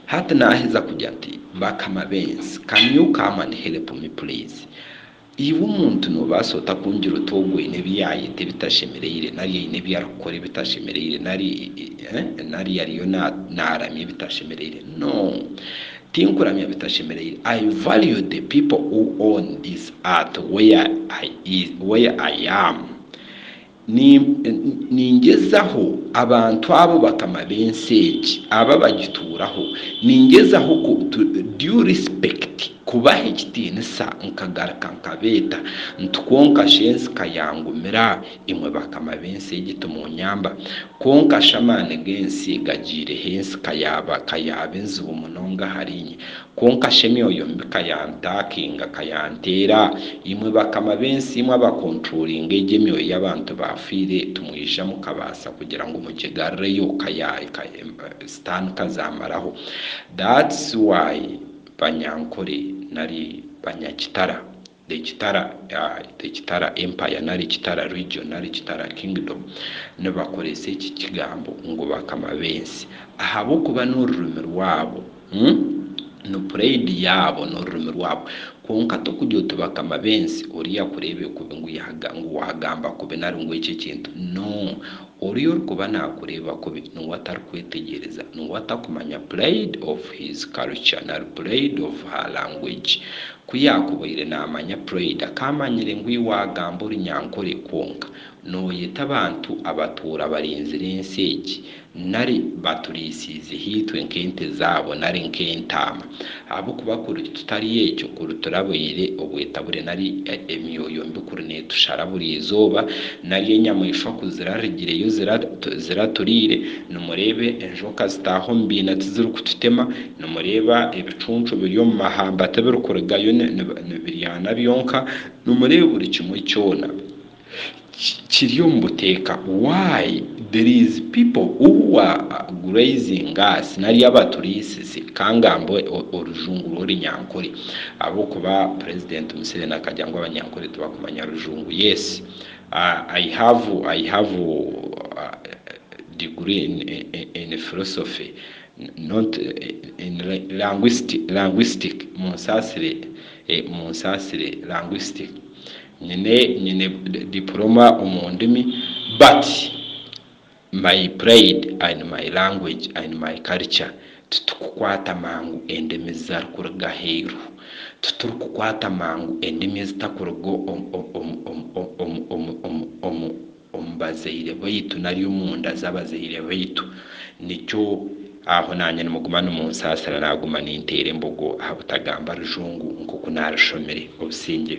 Hati naaheza kurya ati, Bakama b'ensi, can you come and help me please? Iwe omuntu noobaasa ota kungira oti ogwo aine ebi yaayeta ebitashemereire nari aine ebi arikukora ebitashemereire nari nari ariyo naaramya ebitashemereire? No! Tinkuramya bitashemereire. I value the people who own this earth where I is, where I am. Ningyezaho abantu abo bakama b'ensi egi abo abagituuraho, ningyezaho ku, to due respect, kubaha ekitiinisa, nkagaruka nkabeeta nti, Kwonka shi ensi ka yaangumira, imwe bakama b'ensi egi timuunyamba? Kwonka shi amaani g'ensi gagyireho ensi ka yaaba, ka yaaba enzibu munonga ahariinye? Kwonka shi emyoyo mibi ka yaantaakinga, ka yaanteera, imwe bakama b'ensi, imwe abakonturolinga egyo emyoyo y'abantu baafiire, timwija mukabaasa kugira ngu mugigarreyo, ka ya, ka, Sitaani ka zaamaraho. That's why banyankore, nari banyakitara, The Kitara, The Kitara Empire nari Kitara Region nari Kitara Kingdom nibakoresa eki kigambo ngu bakama b'ensi ahabw'okuba n'orurimi rwabo, ni puraidi yaabo n'orurimi rwabo. Kwonka tokurya oti bakama b'ensi oriya kureebeka kubi ngu waagamba kubi nari ngu eki ekintu. No! Oriya orikuba nakureeba kubi niwe atarikwetegyereza, niwe atakumanya pride of his culture nari pride of her language. Ku yaakubaire naamanya pride akaamanyire ngu iwe waagamba orunyankore kwonka nooyeta abantu abatuura barinzire ensi egi nari baturiisiize haitwe nk'ente zaabo nari nk'entaama. Ahabw'okuba kuri tutari ekyo, kuri turaboire obwetabure nari emyoyo mbi kuri neetushara buri izooba, nari enyamaishwa ku zirarigireyo ziraturiire, nimureeba enjoka zitaaha omu biina tizirikututema, nimureeba ebicuncu biri omu mahamba tibirikurigayo nibiryana byonka, nimureeba buri kimwe kyona. Kiri omu buteeka why there is people who are grazing us nari abaturiisize ka ngambe orujungu rw'orunyankore ahabw'okuba president Museveni akagira ngu abanyankore tibakumanya rujungu yes I have I have degree in in philosophy not in languistic languistic munsaasire munsaasire languistic Nyine nyine diploma omu ndimi but my pride and my language and my culture titukukwata mangu endimi zitarikurga aheeru titurikukwata mangu endimi ezitakuruga omu bazaire baitu nari omunda z'abazaire baitu nikyo aho naanye nimuguma nimunsaasira naguma ninteera embogo ahabutagamba rujungu nk'oku narishomire obusingye.